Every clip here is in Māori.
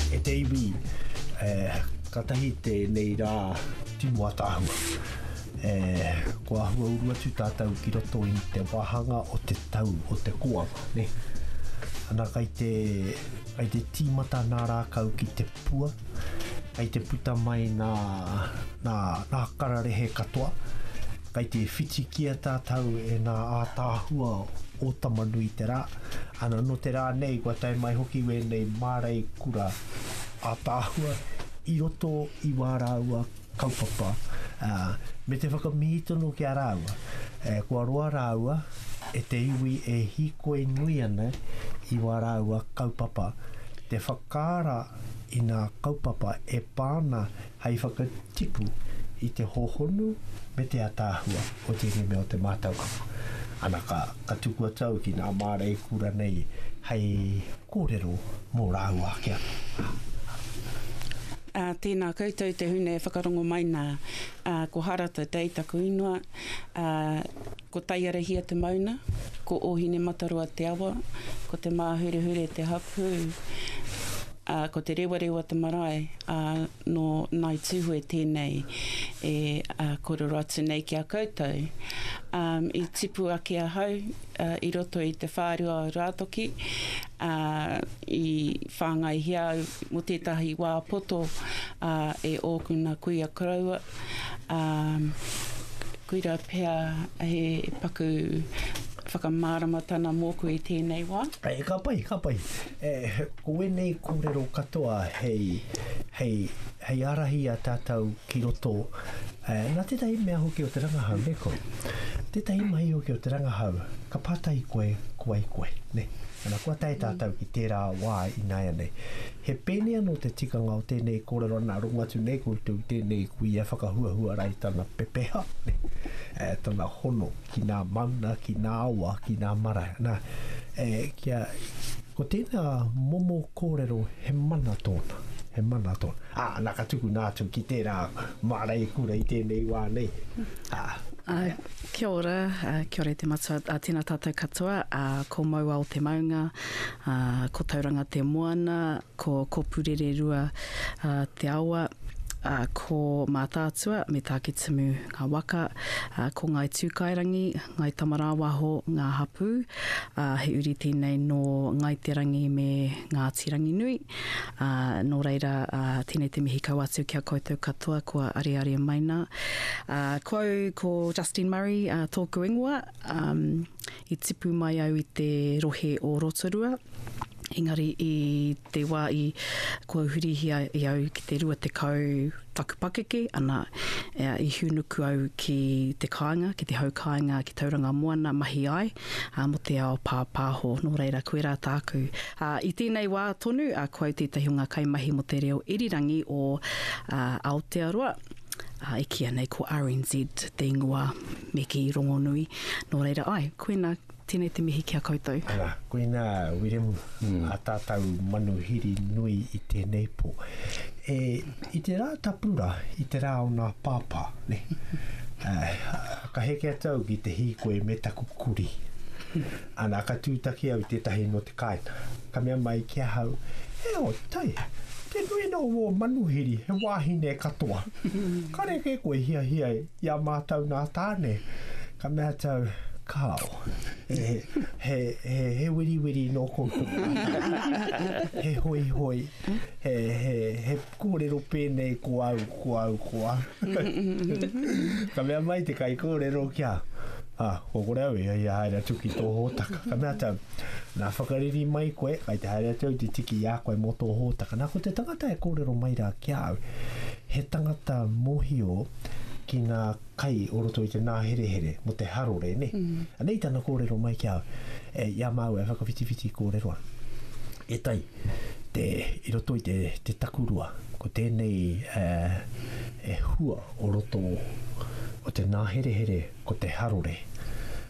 E te iwi, e, katahi tēnei rā timu ataahua. E, ko ahua uru atu tātou ki roto i te wāhanga o te tau o te kōama, ne? Ana kai te, kai te tīmata nā rākau ki te pua, kei te puta mai nā, nā, nā kararehe katoa, kei te whitikia tātou e nā ātaahua o Tamanui te rā, ana nō te rā nei kua tae mai hoki wēnei mārei kura ātaahua i roto i wā rāua kaupapa, ā, me te whakamihi tonu ki a rāua, e, kua roa rāua e te iwi e hīkoi nui ana i wā rāua kaupapa, te whak. Ka ara i ngā kaupapa e pā ana hei whakatipu i te hōhonu me te ataahua o tēnei mea o te mātauranga. Ana ka, ka tukua tau ki ngā māra e kura nei hei kōrero mō rāua ake anō. Ā, tēnā koutou te hune e whakarongo mai nā, ā, ko Harata Day taku ingoa, ā, Ko Taiarahia te mauna, ko Ōhinemataroa te awa, ko Te Māhurehure te hapū, ā, ko Te Rewarewa te marae, ā, nō Ngāi Tūhoe tēnei e kōrero atu nei ki a koutou. Ā, i tipu ake ahau i roto i te whārua o Rātoki, ā, i whāngaihia au mō tētahi wā poto, ā, e ōku nā kuia koroua, ā, Koira pea he paku whakamāramatana mōku i tēnei wā. E, ka pai, ka pai. E, ko ēnei kōrero katoa hei, hei, hei ārahi i a tātou ki roto, e, nā tētahi mea hoki o te rangahau, nē koe? Tētahi mahi hoki o te rangahau, ka pātai koe, ko wai koe, nē? Ana, kua tae tātou ki tērā wā ināianei. He pēnei anō te tikanga o tēnei kōrero ana rongo atu nei koutou i tēnei kuia whakahuahua ara i tana pepeha, e, tana hono ki nā mauna, ki nā awa, ki nā marae. Nā, e, kia, ko tēnā momo kōrero he mana tōna, he mana tōna. Ā, nā ka tukuna atu ki tērā mārei kura i tēnei wā nei. Ā. Ā, kia ora, kia ora e te matua, ā, tēnā tātou katoa, ā, ko Mauao Te Maunga, ā, ko Tauranga te moana, ko Kopu-rere-rua te awa, ā, ko Mātaatua me Tākitimu ngā waka, ā, ko Ngāi Tūkaerangi, Ngāi Tamarāwaho ngā hapū, ā, he uri tēnei nō Ngāi Te Rangi me Ngāti Ranginui, ā, nō reira, ā, tēnei te mihi kau atu ki a koutou katoa kua areare mai nā. Ā, ko au ko Justine Murray, ā, tōku ingoa, ā, I tipu mai au i te rohe o Rotorua, engari i te wā i kua hurihia i au ki te rua tekau taku pakeke, ana, i hūnuku au ki te kāinga, ki te hau kāinga ki Tauranga Moana mahi ai mō te ao pāpāho. Nō reira, koirā tāku. I tēnei wā tonu, ko au tētahi o ngā kaimahi mō te reo irirangi o Aotearoa, e kīia nei ko RNZ te ingoa. Me kī, Rongonui. Nō reira, ae, koina, tēnei te mihi ki a koutou. Ara, koina, Wiremu, a tātou manuhiri nui i tēnei pō. E, i te rā tapu rā, i te rā o nā pāpā, nē. Ka heke atu au ki te hīkoi me taku kurī. Ana, ka tūtaki au i tētahi nō te kāinga. Ka mea mai ki ahau, E o tai, te nuinga o wō manuhiri he wāhine katoa. Kare kē koe hiahia e. I a mātou nā tāne, ka mea tau, Kāo, he wiriwiri nō koutou mātou, he hoihoi, he kōrero pēnei ko au, ko au, ko au. Ka mea mai te kaikōrero ki a, Ah, ko kore au i haere atu ki tō hōtaka. Ka mea tau, nā whakariri mai koe, kai te haere atu au te tiki i a koe mō tō hōtaka. Nā, ko te tangata e kōrero mai rā ki a au, He tangata mohio ki nga kai o roto i te naherehere mo te harore ne. Ana i tana korero mai ki a au, e i a maua e whakawhitiwhiti korero ana. E tai, te i roto i te takurua ko tenei e hua o roto o te naherehere Ko te harore.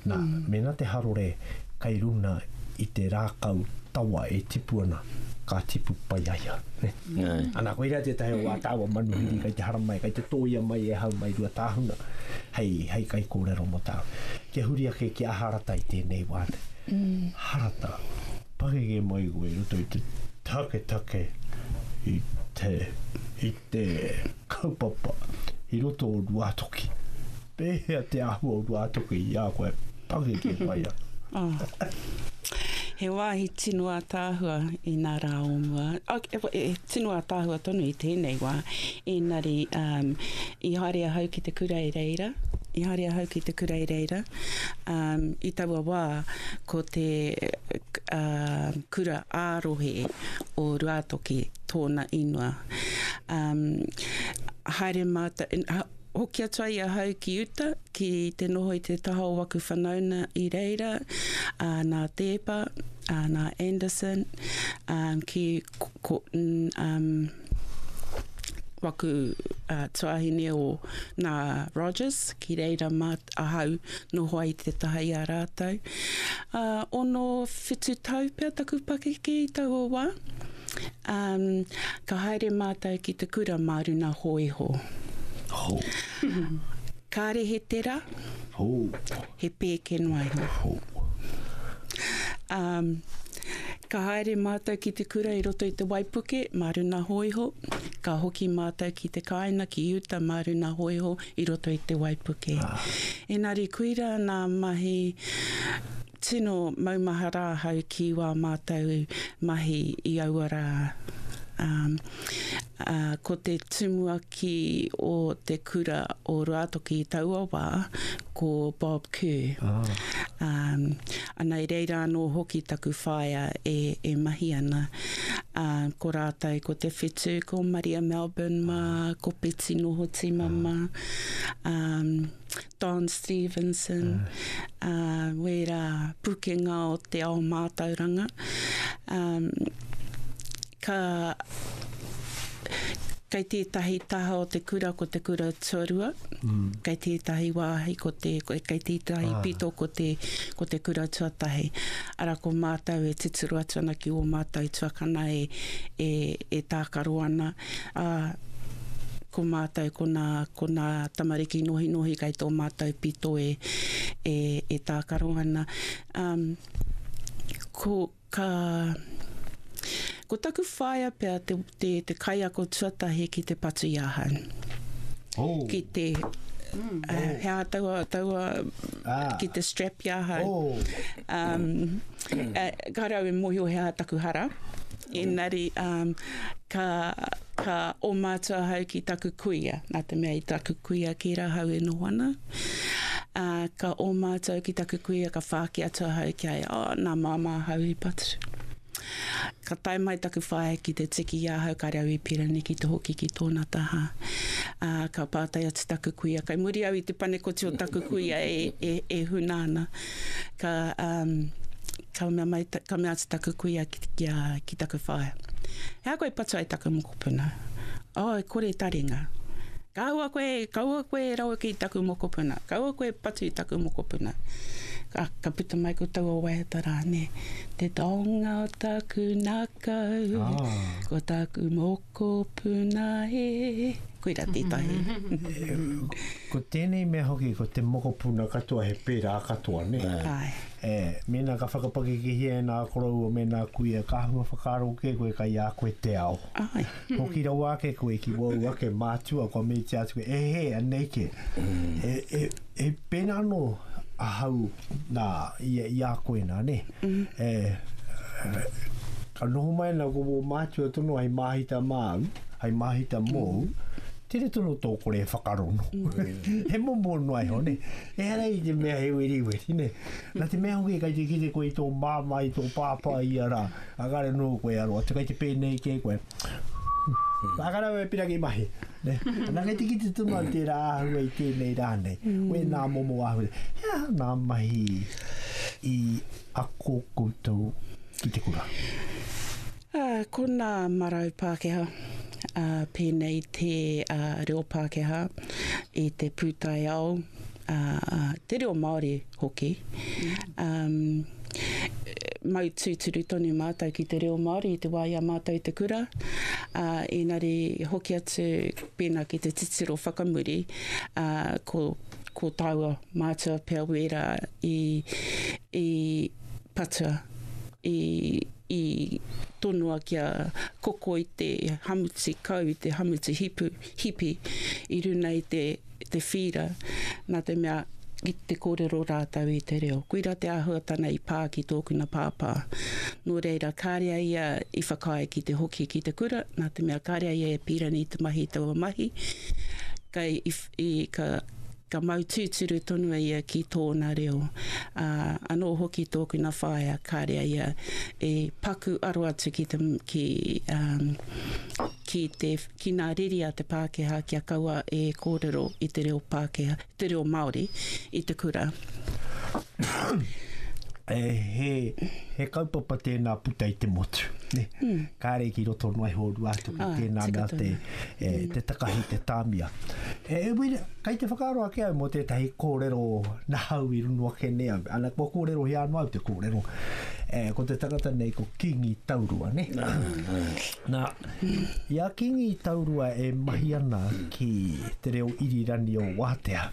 Nā, mēnā te harore kei runga i te rākau tawa e tipu ana, ka tipu pai a ia. Ana, koirā tētahi o wā tāua manuhiri kei te haramai, kei te tōia mai e hau mai Ruatāhuna hei, hei kaikōrero mō tāua. Kia huri ake ki a Harata i tēnei wā nei. Harata, pangege mai koe i roto i te taketake i te, i te kaupapa i roto o Ruatoki. Pēhea te āhua o Ruātoki i a koe? Pakeke mai ana. Oh. He wāhi tino ātaahua i nā rā o mua. E, e, tino ātaahua tonu i tēnei wā. Ēnari, um, i haere ahau ki te kura i reira, i haere ahau ki te kura i reira, um, i taua wā, ko te uh, kura ārohe o Ruātoki, tōna inua. Um, haere mātou, Hoki atu ai ahau ki uta, ki te noho i te taha o waku whanauna i reira, ā, nā Teepa, ā, nā Anderson, ā, ki ko, ā, waku ā, tuāhine o nā Rogers, ki reira mā ahau noho ai te taha i a rātou. Ā, ono, whitu tau pea taku pakeke i taua wā. Um, ka haere mātou ki te kura mā runa hōiho. Ho. Kāre he tera. Ho. He pēke noa iho. Ho. Um, ka haere mātou ki te kura i roto i te waipuke mā runa hōiho. Ka hoki mātou ki te kāina ki Uta mā runa hōiho i roto i te waipuke. Ah. Engari kuira nā mahi Tino maumahara ahau ki wā mātou mahi i aua rā. Ā, ko te tumuaki o te kura o Ruatoki i taua wā, ko Bob Kerr. Ā, ana i reira anō hoki taku whaea e, e mahi ana. Ā, ko rātou ko te whitu, ko Maria Melbourne mā, ko Peti Nohotimama. Ā, Don Stevenson, ā, wērā pūkenga o te ao mātauranga. Ā, ka, kei tētahi taha o te kura ko te kura tuarua, kei tētahi wāhi ko te, kei tētahi pito ko te, ko te kura tuatahi. Arā, ko mātou e tuturu atu ana ki ō mātou tuakana e, e, e tākaro ana, Ā, ko mātou, ko nā, ko nā tamariki nohinohi kei tō mātou pito e, e, e tākaro ana. Ā, ko, ka, ko taku whaea pea te, te, te kaiako tuatahi ki te patu i ahau. Oh. Ki te, ā, he aha taua, taua, Ah. ki te strap i ahau. Oh. Um, ā, ka rau e mōhio he aha taku hara. Engari, um, ka, ka omatu ahau ki taku kuia, nā te mea i taku kuia ki rahau e noho ana. Uh, ka omatu au ki taku kuia, ka whāki atu ahau ki ai, oh, nā māmā ahau i patu. Ka tae mai taku whaea ki te tiki i ahau ka rau i Pirani ki te hoki ki tōna taha. Uh, ka pātai atu taku kuia, kai muri au i te panekoti o taku kuia e, e, e huna ana. Ka, um, Ka mea mai, ka mea atu taku kuia ki, ki, a, ki taku whaea, He aha koe e patu ai taku mokopuna? Oh, e kore taringa. Kaua koe, kaua koe e rawe ki taku mokopuna, kaua koe e patu i taku mokopuna. Ka, ka puta mai ko taua waiata rā, nē, Te taonga o taku nākau, oh. ko taku mokopuna. Ko Puna e. Koira tētahi. Ko tēnei mea hoki, ko te mokopuna katoa he pērā katoa, nē? Āe. E, mēnā ka whakapakekehia e nā koroua me nā kuia, ka āhua whakaaro kē koe kai a koe te ao. Āe. Hoki rawa ake koe ki wāu ake mātua kua metia atu koe, e hē, anei kē. E, e. E pēnā anō ahau nā, i, i a koe nā, nē. Mm-hmm. E, ka noho mai nā ko wō mātua tono hai māhita māu, hai māhita mōu, mm-hmm. tere tono tō kore e whakarono. Mm-hmm. he momo noa iho, nē. E hara i te mea he weri weri, nē. Nā te mea hoki kai te kite koe i tō māma, i tō pāpā i ara, a kare nō koe aroa, te kai te pēnei kē koe. Nā kare wē pira ki mahi. Anakete ki te tumau tērā āhua i tēnei rā nei. Mm. Wē nā momo āhua. He aha nā mahi i ako koutou ki te kura? Uh, ko nā marau Pākehā, uh, pēnei te uh, reo Pākehā i te pūtaiao te reo Māori hoki. Um, mau tūturu tonu mātou ki te reo Māori i te wā i a mātou te kura, uh, inari hoki atu pēnā ki te titiro whakamuri, uh, ko, ko tāua mātua pia wērā i, i patua, i, i tonoa kia koko i te hamuti kau, i te hamuti hipu, hipi, i runa i te te whīra, nā te mea ki te kōrero rātou i te reo. Koira te āhuatana i pā ki tōkuna pāpā. Nō reira, kāre a ia i whakaae ki te hoki ki te kura, nā te mea kāre a ia e pīra nei te mahi i taua mahi, ka, i, i, ka, ka mau tūturu tonu a ia ki tōna reo. Ā, anō hoki tōkuna whaea, kāre a ia e paku aro atu ki te, ki, um, ki te Ki nā Riria te Pākehā kia kaua e kōrero i te reo Pākehā, te reo Māori i te kura. He kaupapa tēnā puta i te motu. Kāre ki roto noa iho rua atu ki tēnā mea te takahi, te tāmia. E wera, kai te whakaaro ake au mō tētahi kōrero nahau i runga ake nei au. Ana, kua kōrero hea noa au te kōrero. Ko te tangata nei ko Kingi Taurua, nē? Nā. I a Kingi Taurua e mahi ana ki te reo irirani o Waatea.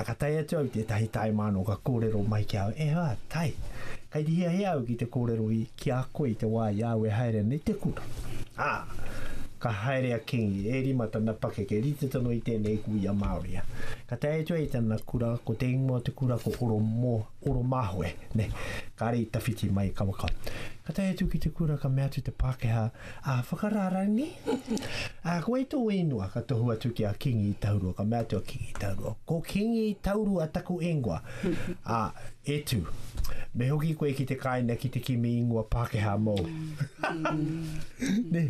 Ka tae atu au tētahi taemāno ka kōrero mai ki a au, Ehā, tae, kei te hiahia au ki te kōrero ki a koe i te wā i a au e haere ana i te kura. Ā, ka haere a Kingi, e rima tana pakeke, rite tonu i tēnei kuia Māori. Ka tae atu au i tana kura, ko te ingoa o te kura ko Oromoha. Oromahoe, ne, kare i tawhiti mai i Kawaka. Ka tae atu ki te kura ka mea atu te Pakeha, A whakararani? A koe i to inua? Ka tohu atu ki a Kingi i Taurua, ka mea atu a Kingi i Taurua, Ko Kingi i Taurua taku ingoa. A, e tu, me hoki koe ki te kaina ki te kimi ingoa Pakeha mou. ne.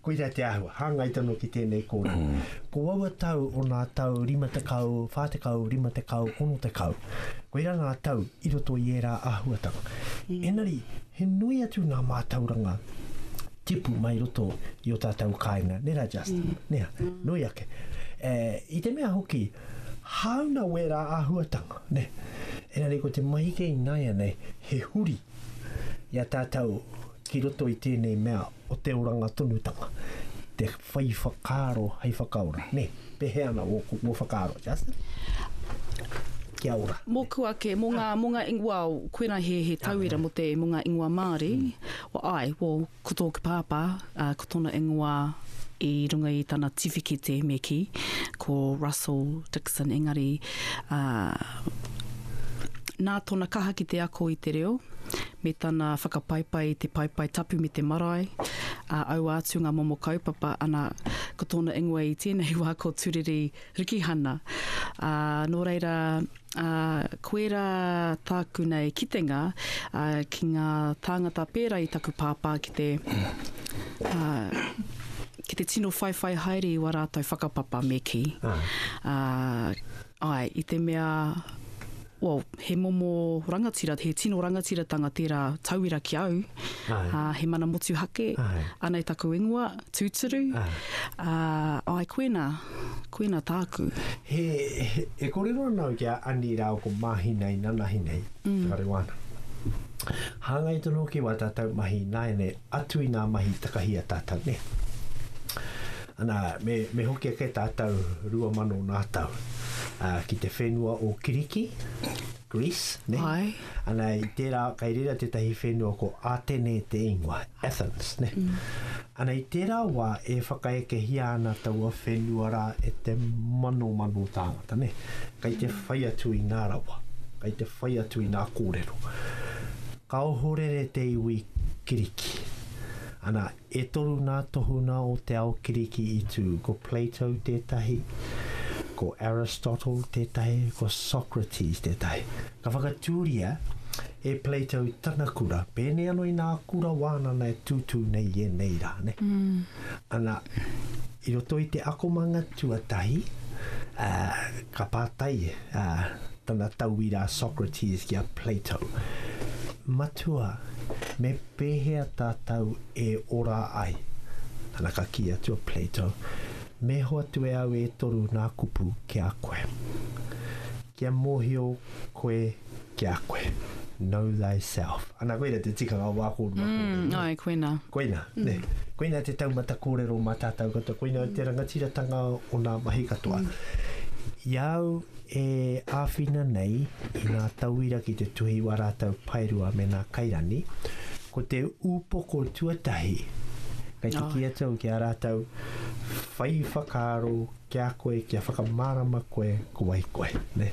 Koira te āhua, hāngai tonu ki tēnei kōrero. Ko aua tau o nā tau rima tekau, whā tekau, rima tekau, ono tekau. Koira ngā tau i roto i ērā āhuatanga. Engari, he nui atu nā mātauranga tipu mai roto i o tātou kāinga, nē rā Justin, nē, nui ake. E, i te mea hoki, hāuna wērā āhuatanga, nē. Engari ko te mahi kei nāianei, he huri i a tātou, ki roto i tēnei mea o te oranga tonutanga, te whai whakaaro hei whakaora, nē, pēhea ana ō, ō whakaaro, Justin? Kia ora. Mōku ake, mō ngā, mō ngā, well, koinā he, he tauira mō te, mō ngā ingoa Māori, well, āe, well, ko tōku pāpā, uh, ko tōna ingoa i runga i tana tiwhikete me kī, ko Russell Dixon, engari, uh, nā tōna kaha ki te ako i te reo, me tana whakapaipai i te paepae tapu me te marae, ā, aua atu ngā momo kaupapa, ana, ko tōna ingoa i tēnei wā ko Turiri Rikihana. Ā, nō reira, ā, koe rā tāku nei kitenga, ā, ki ngā tāngata pērā i taku pāpā ki te, ā, ki te tino whaiwhai haere i wā rātou whakapapa, me kī. Ā, āe, i te mea, well, he momo rangatira, he tino rangatiratanga tērā tauira ki au, uh, he mana motuhake, Aye. anei taku ingoa, tūturu, uh, ai koena, koena tāku. He, he, e korero ana au ki a Ani rāo ko Mahina i nanahi nei, mm. te whare wāna. Hāngai tonu hoki wā tātou mahi nāianei Atu i ngā mahi takahi a tātou, nē? Ana, me, me hoki ake tātou rua mano nā tau, ā, ki te whenua o Kiriki, Greece, nē? Āe. Ana, i tērā, kei reira tētahi whenua ko Ātene te ingoa, Athens, nē? Ana, i tērā wā e whakaekehia ana taua whenua rā e te manomano tāngata, nē? Kei te whai atu i ngā rawa, kei te whai atu i ngā kōrero. Ka ohorere te iwi Kiriki. Ana, e toru ngā tohunga o te ao Kiriki i tū, ko Plato tētahi, ko Aristotle tētahi, ko Socrates tētahi. Ka whakatūria e Plato tana kura, pēnei anō i ngā kura wānana e tūtū nei i ēnei rā. Ana, I roto i te akomanga tuatahi, ā, ka pātai a tana tauira a Socrates ki a Plato, Matua, me pēhea tātou e ora ai? Ana ka kī atu a Plato, Me hoatu e au e toru nā kupu ki a koe. Kia mōhio koe ki a koe. Know thyself. Ana koina te tikanga o wā kōrua. Mm, kōrua. Ai, koina. Koina, mm. ne. Koina te taumata kōrero mā tātou katoa. Koina mm. te rangatiratanga o nā mahi katoa. Mm. Iau e āwhina nei i ngā tauira ki te tuhi wā rātou paerua me nā kairani, ko te upoko tuatahi kei te oh. kia tau ki a rātou whai whakaaro kia koe, kia whakamārama koe, ko wai koe. Ne?